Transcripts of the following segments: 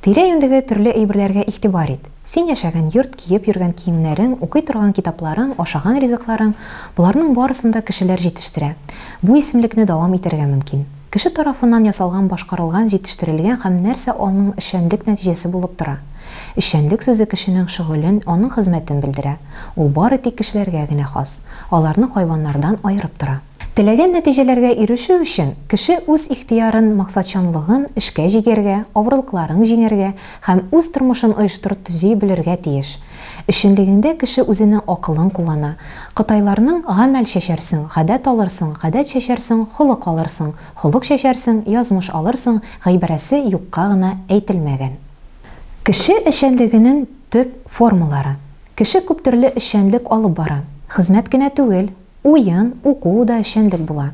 Тирә-юньдәге төрле әйберләргә игътибар ит. Син яшәгән йорт, киеп йөргән киемнәрең, укый торган китапларың, ашаган ризыкларың, боларның барысын да кешеләр җитештерә. Бу исемлекне дәвам итәргә мөмкин. Кеше тарафыннан ясалган, башкарылган, җитештерелгән һәм нәрсә аның эшчәнлек нәтиҗәсе булып тора. Эшчәнлек сүзе кешенең шөгылен, аның хезмәтен белдерә. Ул бары тик кешеләргә генә хас. Аларны хайваннардан аерып тора. Теләгән нәтиҗәләргә ирешү өчен, кеше үз ихтыярын, максатчанлыгын эшкә җигәргә, авырлыкларын җиңәргә һәм үз тормышын оештырып төзи белергә тиеш. Эшчәнлегеңдә кеше үзенең акылын куллана. Кытайларның Гамәл чәчәрсең, гадәт алырсың, гадәт чәчәрсең, холык алырсың, холык чәчәрсең, язмыш алырсың гыйбарәсе юкка гына әйтелмәгән. Кеше эшчәнлегенен төп формалары. Кеше күптөрле эшчәнлек алып бара. Хезмәт кенә түгел, Уен, уку да эшчәнлек була.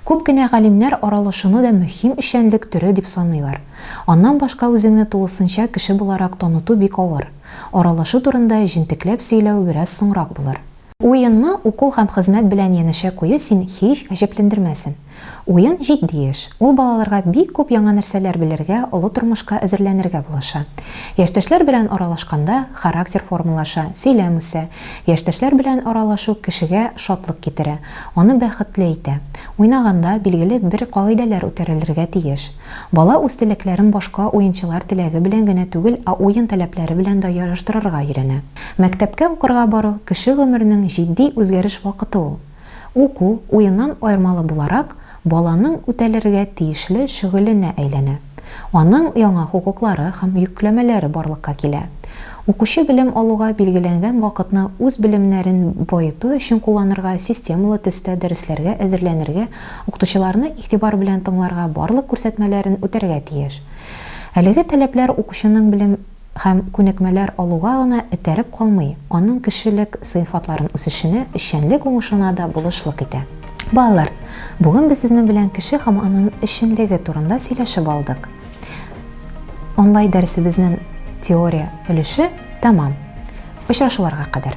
Күп кенә галимнәр аралашуны да мөһим эшчәнлек төре дип саныйлар. Аннан башка үзеңне тулысынча кеше буларак таныту бик авыр. Аралашу турында җентекләп сөйләү бераз соңрак булыр. Уенны уку һәм хезмәт белән янәшә кую син һич гаҗәпләндермәсен. Уен, җитди эш. Ул балаларга бик күп яңа нәрсәләр белергә, олы тормышка әзерләнергә булыша. Яшьтәшләр белән аралашканда, характер формалаша, сөйләм үсә. Яшьтәшләр белән аралашу кешегә шатлык китерә, аны бәхетле итә. Уйнаганда, билгеле бер кагыйдәләр үтәрелергә тиеш. Бала үз теләкләрен башка уенчылар теләге белән генә түгел, ә уен таләпләре белән дә яраштырырга өйрәнә. Мәктәпкә укырга бару, кеше гомеренең җитди үзгәреш вакыты ул. Уку, уеннан аермалы буларак, баланың үтәлергә тиешле шөгыленә әйләнә. Аның яңа хокуклары һәм йөкләмәләре барлыкка килә. Укучы белем алуга билгеләнгән вакытны үз белемнәрен баету өчен кулланырга, системалы төстә дәресләргә әзерләнергә, укытучыларны игътибар белән тыңларга, барлык күрсәтмәләрен үтәргә тиеш. Әлеге таләпләр укучының белем. һәм күнекмәләр алуга гына этәреп калмый, аның кешелек сыйфатларын үсешенә, эшчәнлек уңышына да булышлык итә. Балалар, бүген без сезнең белән кеше һәм аның эшчәнлеге турында сөйләшеп алдык. Онлайн дәресебезнең теория өлеше тәмам. Очрашуларга кадәр.